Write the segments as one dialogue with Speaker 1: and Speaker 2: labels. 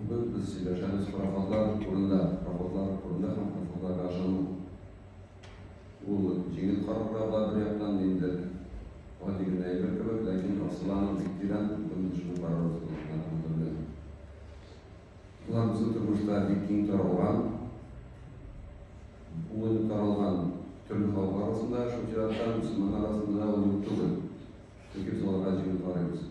Speaker 1: Бүген без сөйләшәбез пароходлар турында, пароходлар турында һәм пароходларга ышану. Ул җиңел карарга була бер яктан, инде гади генә әйбер кебек, ләкин асылы аның бик тирән, бүген без шул карар узганда һәм белән. Болар безнең тормышта бик киң таралган, бүген таралган төрле халык арасында, шул чиратта мөселман арасында да ул юк түгел. Чөнки без аларга җиңел карыйбыз.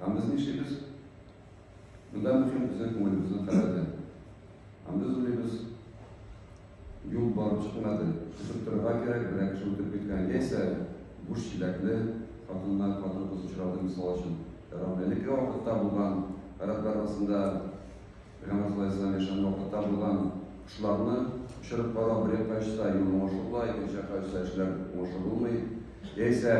Speaker 1: Һәм без нишлибез? Монда мөһим безнең күңелебезнең халәте. Һәм без уйлыйбыз, юл барып чыкмады, көтеп торырга кирәк, берәр кеше үтеп киткән, яисә буш чиләкле хатыннар, хатын-кыз очрады, мисал өчен. Әлеге вакытта булган рәт арасында Рамазан ае саен яшьләрне вакытта булган кошларны очырып карау бер якка очса, юл уңышлы була, икенче якка очса, эшләр уңышлы булмый. Яисә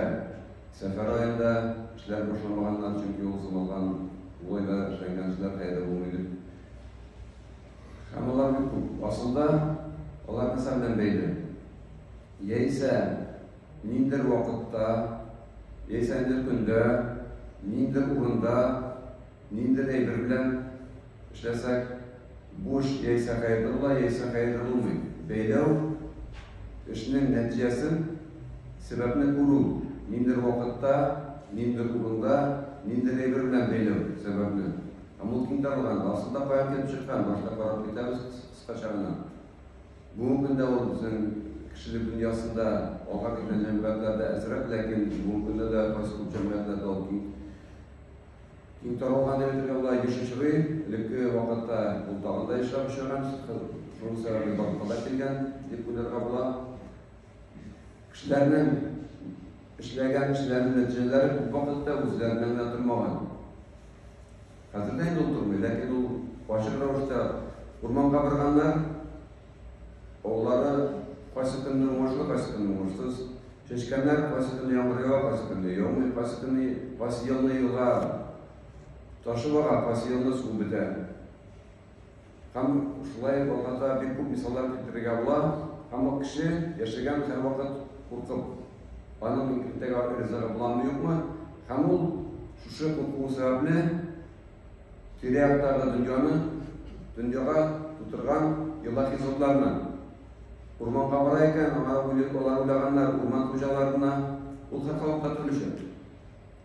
Speaker 1: сәфәр аенда эшләр башламаганнар, чөнки ул саналган ул айда эшләнгән эшләр каядыр булмый бит. Һәм алар бик күп. Асылда алар нәрсә белән бәйле? Яисә ниндер вакытта, яисә ниндер көндә, ниндер урында Нинди әйбер белән эшләсәк, бу эш яисә хәерле була, яисә хәерле булмый. Бәйләү эшнең нәтиҗәсен, сәбәпне күрү, ниндидер вакытта, ниндидер урында, нинди әйбер белән бәйләү сәбәпне. Һәм ул киң таралган. Асылда каян килеп чыккан, башта карап китәбез кыскача гына. Бүгенге көндә ул безнең кешелек дөньясында алга киткән җәмгыятьләрдә әзрәк, ләкин бүгенге көндә дә кайсы күп җәмгыятьләрдә ул киң Иң табылган директорга була еш очрый. Элекке вакытта ул тагын да ешрак очраган. Шуның сәбәбе барлыкка килгән дип уйларга була. Кешеләрнең эшләгән эшләренең нәтиҗәләре күп вакытта үзләреннән генә тормаган. Хәзер дә инде ул тормый, ләкин ул ачык рәвештә урманга барганнар, Олылары кайсы көнне уңышлы, кайсы көнне уңышсыз. Чәчкәннәр кайсы көнне яңгыр ява, кайсы көнне яумый, кайсы көнне кайсы елны елга ташып ага, кайсы елны су бетә. Һәм шулай вакытта бик күп мисаллар китерергә була. Һәм ул кеше яшәгән һәр вакыт куркып, аның иртәгә ризыгы буламы юкмы? Һәм ул шушы куркуы сәбәпле Тирә-яктагы дөньяны, дөньяга тутырган елахи затларны. Урманга бара икән, аңа үлеп алар уйлаганнар, урман хуҗаларына ул хакалыкка төрлечә.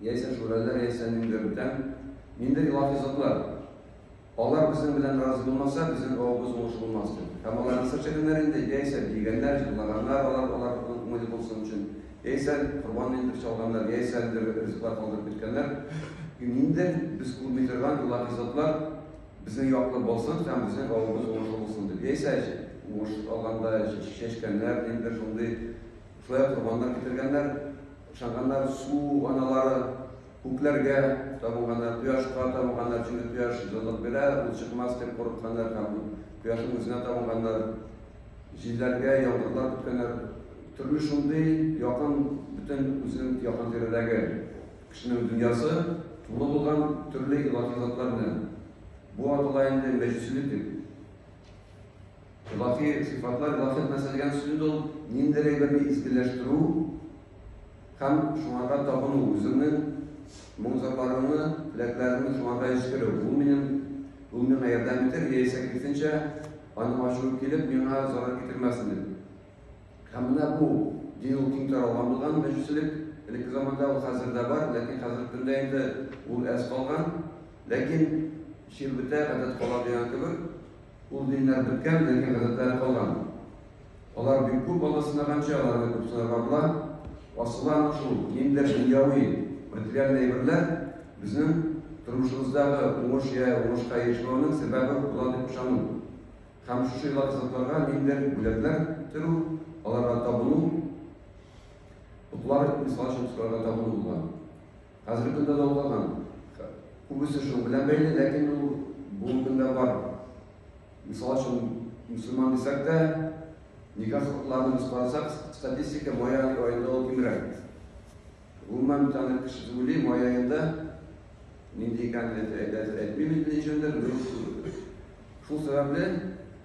Speaker 1: Яисә шүрәләр, яисә ниндидер бүтән, ниндидер илаһи затлар. Алар безнең белән разый булмаса, безнең авыбыз уңыш булмас дип. Һәм аларны сыр чәгәннәр инде, яисә биегәннәр, җырлаганнар алар, алар уңайлы булсын өчен. Яисә корбан итеп чалганнар, яисә әлеге ризыклар калдырып киткәннәр. Инде без күрми торган илаһи затлар безнең яклы булсын һәм безнең авыбыз уңышлы булсын дип, яисә уңыш алганда чәчкәннәр, ниндидер шундый шулай корбаннар китергәннәр, ышанганнар, су аналары, күкләргә табынганнар, кояшка табынганнар, чөнки кояш җылылык бирә, ул чыкмас дип курыкканнар һәм кояшның үзенә табынганнар. Җилләргә, яңгырлар көткәннәр. Тормыш шундый якын, бөтен үзенең якын тирәдәге кешенең дөньясы тулы булган төрле илаһи затлар белән. Бу атала инде мәҗүсилек дип. Илаһи сыйфатлар, илаһият нәрсә дигән сүз инде ул? Ниндидер әйберне изгеләштерү, Һәм шуңарга табыну, үзеңнең моң-зарларыңны, теләкләреңне шуңарга җиткерү, ул минем, ул миңа ярдәм итәр, яисә киресенчә, аның ачуы килеп, миңа зарар китермәсен дип. Һәм менә бу дин ул киң таралган булган, мәҗүсилек. Элекке заманда ул хәзер дә бар, ләкин хәзерге көндә инде ул әз калган. Ләкин чир бетә, гадәт кала дигән кебек. Ул диннәр беткән, ләкин гадәтләре калган. Алар бик күп бала сынаганчы, аларны күп сынарга була. Асылы аның шул, ниндидер дөньяви, материаль әйберләр безнең тормышыбыздагы уңыш я уңышка ирешмәүнең сәбәбе була дип ышану. Һәм шушы илаһи затларга ниндидер бүләкләр төрү, аларга табыну, оклар, мисал өчен, окларга табыну булган. Хәзерге көндә дә укыган. Күбесе шул белән бәйле, ләкин ул бүгенге көндә бар. Мисал өчен, мөселман дисәк тә, никах хокукларын без карасак, статистика май аенда ул кимрәк. Гомумән, тәнек кеше түгел, май аенда нинди икәнен әйтмим инде ничәндер, Шул сәбәпле,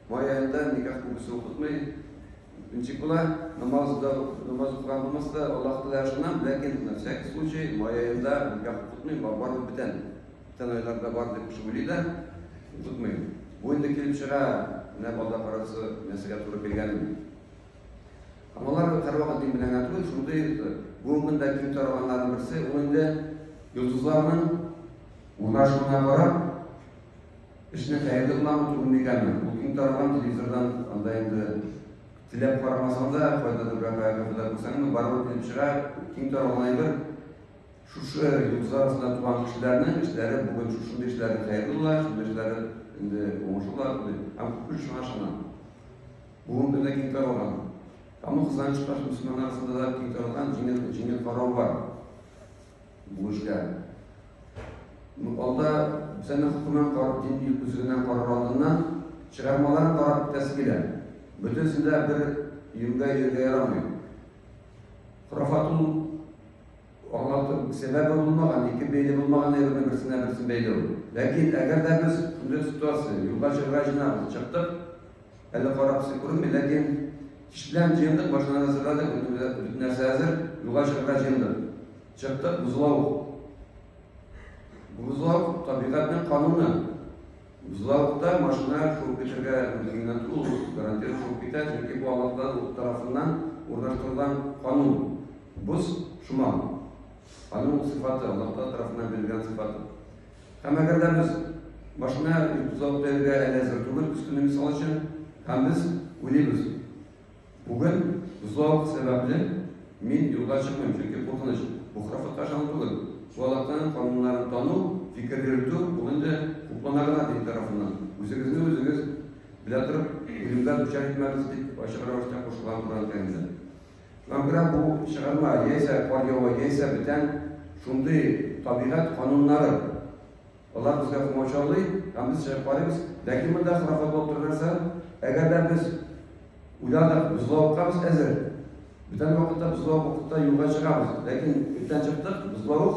Speaker 1: май аенда никах күбесе укытмый. Ничек була, намаз да намаз укыган булмаса да, Аллаһ Тәгалә ышанам, ләкин на всякий случай май аенда никах укытмый, бар бар бүтән. Бүтән айларда бар дип кеше уйлый да, укытмый. Бу инде килеп чыга, менә балда карасы нәрсәгә туры килгәнен. Һәм алар һәрвакыт дин белән генә түгел, шундый бүгенге көндә киң таралганнарның берсе, ул инде йолдызларның урнашуына карап, Эшне хәерле генә үтү микәнме? Бу киң таралган телевизордан анда инде теләп карамасаң да, кайдадыр бер каякта күзәтеп күрсәңме, барыбер килеп чыга. Киң таралган әйбер. Шушы йолдызлар арасында туган кешеләрнең эшләре бүген шушындый эшләре хәерле була, шундый эшләре инде уңышлы була, дип. Һәм күпме шуңа ышанам. Бүгенге көндә киң таралган. Һәм бу кызганыч каршы мөселманнар арасында да киң таралган җиңел, җиңел карау бар. Бүлешкән. Анда бетәне хөкемен карап, дин күзеннән карар алдыннан, чыгармаларын карап бетәсе килә. Бөтенесе дә бер юньгә йөрергә ярамый. Хурафат ул аңлатып, сәбәбе булмаган, ике бәйле булмаган әйберне берсенә берсен бәйләү. Ләкин әгәр дә без шундый ситуация, юлга чыгарга җыенабыз, чыктык, Әле карап сый күренми, ләкин кичлән җыендык, машина әзерләдек, бөтен нәрсә әзер, юлга чыгарга җыендык. Чыктык, бозлау. Бозлау табигатьнең кануны. Бозлаукта машина шуып китергә мөмкинлек ул гарантированно шуып китә, чөнки бу Аллаһтан тарафыннан урнаштырылган канун. Боз шума. Аның сыйфаты, Аллаһтан тарафыннан бирелгән сыйфаты. Һәм әгәр дә без машина йөртүзалып бирергә әле әзер түгел, өстенә мисал өчен, һәм без уйлыйбыз, бүген бозлавык сәбәпле мин юлга чыкмыйм, чөнки куркыныч. Бу храфатка ышану түгел. Бу аллаһның кануннарын тану, фикер йөртү, ул инде хуплана гына дин тарафыннан. Үзегезне үзегез белә торып, үлемгә дучар итмәгез, дип ачык рәвештә кушылган Коръән Кәримдә. Яңгырап бу чыгарма яисә кар ява, яисә бүтән шундый табигать кануннары. Алар безгә комачаулый һәм без чыгып карыйбыз. Ләкин монда хорафат булып торган нәрсә, әгәр дә без уйладык, бозлавыкка без әзер. Бүтән вакытта бозлавык вакытта юлга чыгабыз. Ләкин иртән чыктык, бозлавык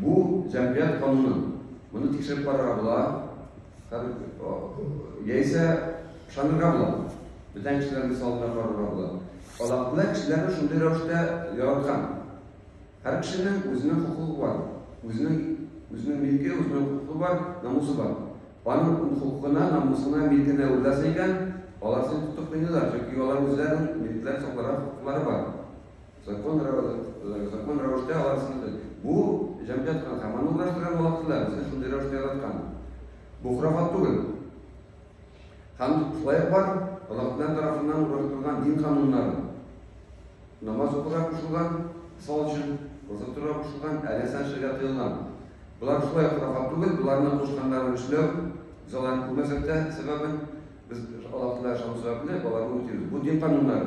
Speaker 1: Бу җәмгыять кануны. Моны тикшереп карарга була. Яисә ышанырга була. Бүтән кешеләр мисалына карарга була. Аллаһ кешеләрне шундый рәвештә яраткан. Һәр кешенең үзенең хокукы бар. Үзенең үзенең милке, үзенең хокукы бар, намусы бар. Аның хокукына, намусына, милкенә уйласа икән, алар син тотып кыйныйлар, чөнки алар үзләренең милкләр сакларга хокуклары бар. Закон рәвештә алар сынды. Бу җәмгыять кына канунлаштыра, молодцы да, безне шундый рәвештә яраткан. Бу хурафат түгел. Һәм шулай бар, Аллаһтан тарафыннан ураштырылган дин кануннары. Намаз укырга кушылган, мисал өчен, роза торырга кушылган, әле сәнчергә тыелган. Болар шулай хурафат түгел, боларны кушканнарын эшләү, без аларны күрмәсәк тә сәбәбен, без Аллаһтан ышану сәбәпле, аларны үтибез. Бу дин кануннары.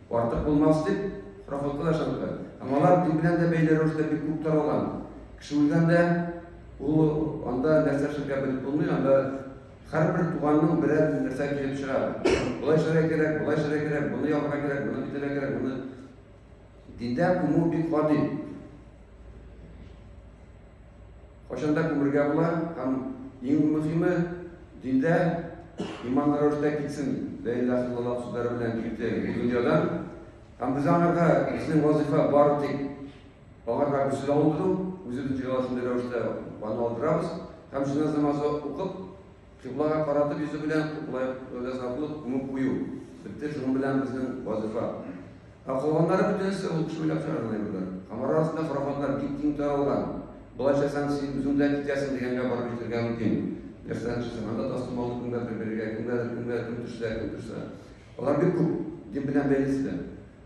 Speaker 1: Артык булмас дип, рахлыклы да ышандык. Һәм алар дин белән дә бәйле рәвештә бик күп таралган. Кеше үлгәндә, ул анда нәрсә эшләргә белеп булмый, анда һәрбер туганның берәр нәрсә килеп чыга. Болай эшләргә кирәк, болай эшләргә кирәк, моны ябарга кирәк, моны битәргә кирәк, моны. Диндә күмү бик гади. Кайчан да күмергә була һәм иң мөхиме, диндә иманлы рәвештә китсен, лә иляха иллаллах сүзләре белән китте бу дөньядан. Һәм без аңарга безнең вазифа бар тик аңарга гүсел алдыру, үзе дә җыела шундый рәвештә аны алдырабыз һәм җеназа намазы укып, Кыйблага каратып йөзе белән кыйблага затлык күмеп кую, бетте шуның белән безнең вазифа. Ә калганнары бөтенесе ул кеше уйлап чыгарган әйберләр. Һәм арасында хорафатлар бик киң таралган. Болайча сән син үзең дә китәсең дигәнгә барып җитәргә мөмкин. Нәрсәдән төшсәң, анда тастымалны кемгәдер бирергә, кемгәдер, кемгә кем төшсә, кем төшсә. Алар бик күп, дин белән бәйлесе дә.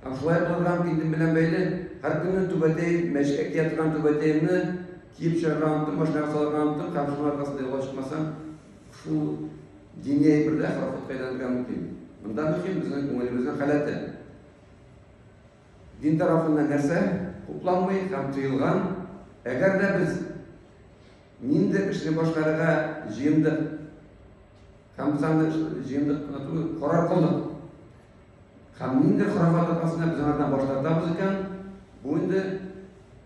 Speaker 1: Һәм шулай булырга мөмкин, дин белән бәйле. Һәркөнне түбәтәем, мәчеткә кия торган түбәтәемне, Киеп чыгарга оныттым, машинага салырга оныттым, һәм шуның аркасында юлга чыкмасам, шул дини әйберләр халыкка әйләнергә мөмкин. Монда мөһим безнең күңелебезнең халәте. Дин тарафында нәрсә хупланмый һәм тыелган? Әгәр дә без нинди эшне башкарырга җыендык һәм без аны җыендык кына түгел, карар кылдык. Һәм нинди хорафат аркасында без аңардан баш тартабыз икән, бу инде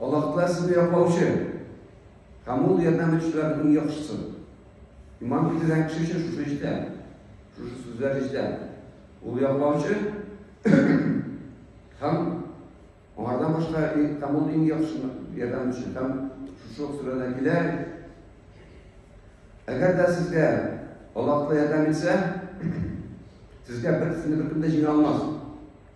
Speaker 1: Аллаһ Тәгалә сезне яклаучы һәм ул ярдәм итүчеләрнең иң яхшысы. Иман китергән кеше өчен шушы эштә, шушы сүзләр эштә. Ул яклаучы һәм аңардан башка һәм ул иң яхшы ярдәм итүче һәм шушы ук сүрәдә килә. Әгәр дә сезгә Аллаһ ярдәм итсә, сезгә бер сине беркем дә җиңә алмас.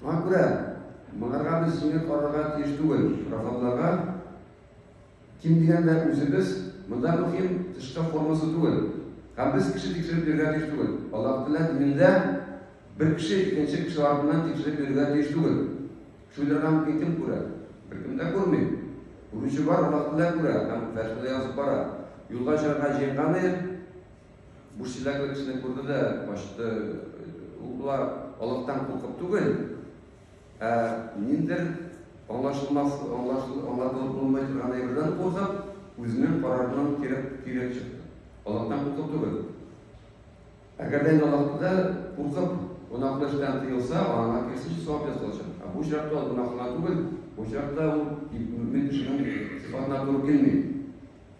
Speaker 1: Шуңа күрә моңарга без җиңел карарга тиеш түгел. Шарафатларга ким дигәндә үзебез монда мөһим тышкы формасы түгел. Һәм без кеше тикшереп йөрергә тиеш түгел. Аллаһ Тәгалә динендә бер кеше икенче кеше артыннан тикшереп йөрергә тиеш түгел. Шуйларга мөмкин кем күрә? Беркем дә күрми. Күрүче бар, Аллаһ Тәгалә күрә һәм фәтхи дә язып бара. Юлга чыгарга җыенган ир, Бу чиләкле кешене күрде дә качты. Ул болар алыктан куркып түгел, ә ниндер аңлашылмас, аңлашыл, аңлатылып булмый торган әйбердән куркып, үзенең карарыннан кирәк кирәк чыкты. Алыктан куркып түгел. Әгәр дә алыктыда куркып гөнаһлы эштән тыелса, аңа кирсенчә савап ясалачак. Ә бу очракта ул гөнаһлы түгел, бу очракта ул мөмин кешенең сыйфатына туры килми.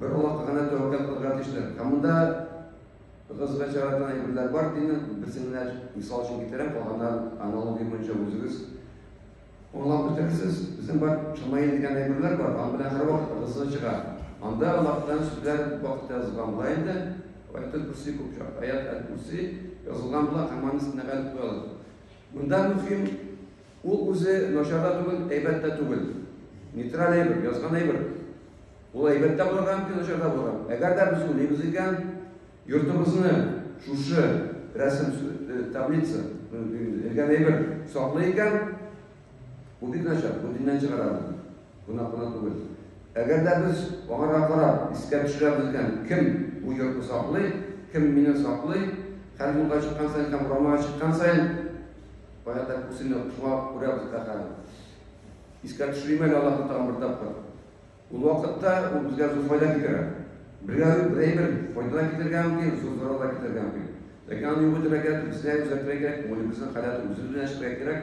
Speaker 1: Бер Аллаһка гына тәвәккәл кылырга тиешләр. Һәм монда кызга чараган әйберләр бар димме? Берсен генә мисал өчен китерәм, калганнарын аналогия буенча үзегез аңлап бетерерсез. Безнең бар шамаил дигән әйберләр бар, аның белән һәрвакыт ыгы-зыгы чыга. Анда Аллаһтан сүзләр вакыт язылган була инде. Аяттан күрси күп чак, аят әл-күрси язылган була, һәм аны өстенә гәрәп куялар. Монда мөһим Ул үзе начар да түгел, әйбәт тә түгел. Нейтраль әйбер, язган әйбер. Ул әйбәт тә булырга мөмкин, начар да булырга. Әгәр дә без уйлыйбыз икән, йортыбызны шушы рәсем э, таблица элгән әйбер саклый икән, бу бик начар, бу диннән чыгара. гына кына түгел. Әгәр дә без аңарга карап, искә төшерәбез икән, кем бу йортны саклый, кем мине саклый, хәл юлга чыккан саен һәм урамнарга чыккан саен, кая да күрсен, шуңа күрәбез дә хәзер. Искә төшерим әле Аллаһны тагын бер тапкыр. Ул вакытта ул безгә зур файда китерә. Бергә бер әйбер файда китергә мөмкин, зур зарар да китергә мөмкин. Ләкин аны юк итәргә кирәк, безгә үзгәртергә кирәк, күңелебезнең халәте үзебез белән эшләргә кирәк.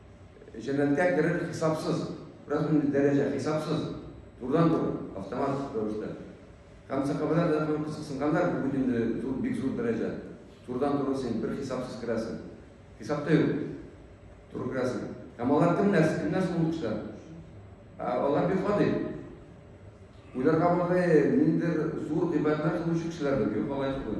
Speaker 1: Җәннәткә керер хисапсыз, бераз инде дәрәҗә хисапсыз, турыдан-туры, автомат рәвештә. Һәм сәхабәләр дә аны кызыксынганнар, бу инде зур, бик зур дәрәҗә. Турыдан-туры син бер хисапсыз керәсең. Хисап та юк. Туры керәсең. Һәм алар кемнәр? Кемнәр шул кешеләр? Ә алар бик гади. Уйларга булды, ниндер зур гыйбадәтләр кылучы кешеләрдер, юк алай түгел.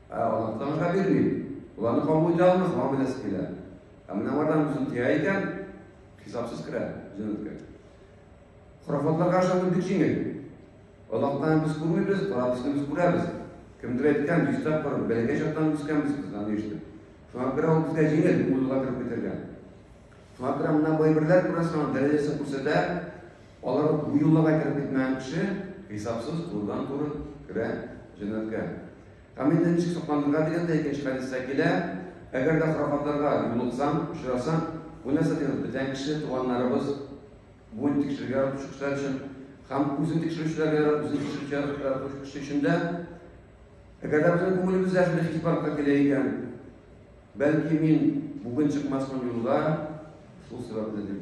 Speaker 1: Ә Аллаһ Тәгаләгә бирми. Ул аны кабул итә алмый, шуңа бирәсе килә. Ә менә бардан үзен тия икән, хисапсыз керә җәннәткә. Хорафатларга ышану бик җиңел. Аллаһтан без күрмибез, карабызны без күрәбез. Кемдер әйткән, дистәп барып, бәләкәй чактан үскәнбез без аны ишетеп. Шуңа күрә ул безгә җиңел, ул юлга кереп китәргә. Шуңа күрә мына бу әйберләр күрәсең, аның дәрәҗәсен күрсәтә, Алар бу юлларга кереп китмәгән кеше хисапсыз турыдан-туры керә җәннәткә. Һәм инде ничек сокланырга дигән дә икенче хәдистә килә. Әгәр дә хорафатларга юлыксаң, очрасаң, бу нәрсә дигән бүтән кеше, туганнарыбыз, буын тикшерергә яратучы кешеләр өчен һәм үзен тикшерүчеләргә, үзен тикшерүче яратучы кеше өчен дә. Әгәр дә безнең күңелебездә шундый хис барлыкка килә икән, бәлки мин бүген чыкмасмын юлга, шул сәбәпле дип.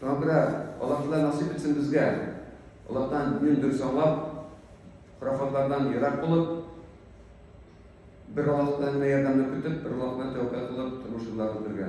Speaker 1: Таңгра, Аллаһ Тәгалә насыйп итсен безгә, Аллаһтан динен дөрес аңлап, хорафатлардан ерак булып, бер Аллаһтан гына ярдәмне көтеп, бер Аллаһ гына тәвәккәл кылып тормыш юлларын үтергә.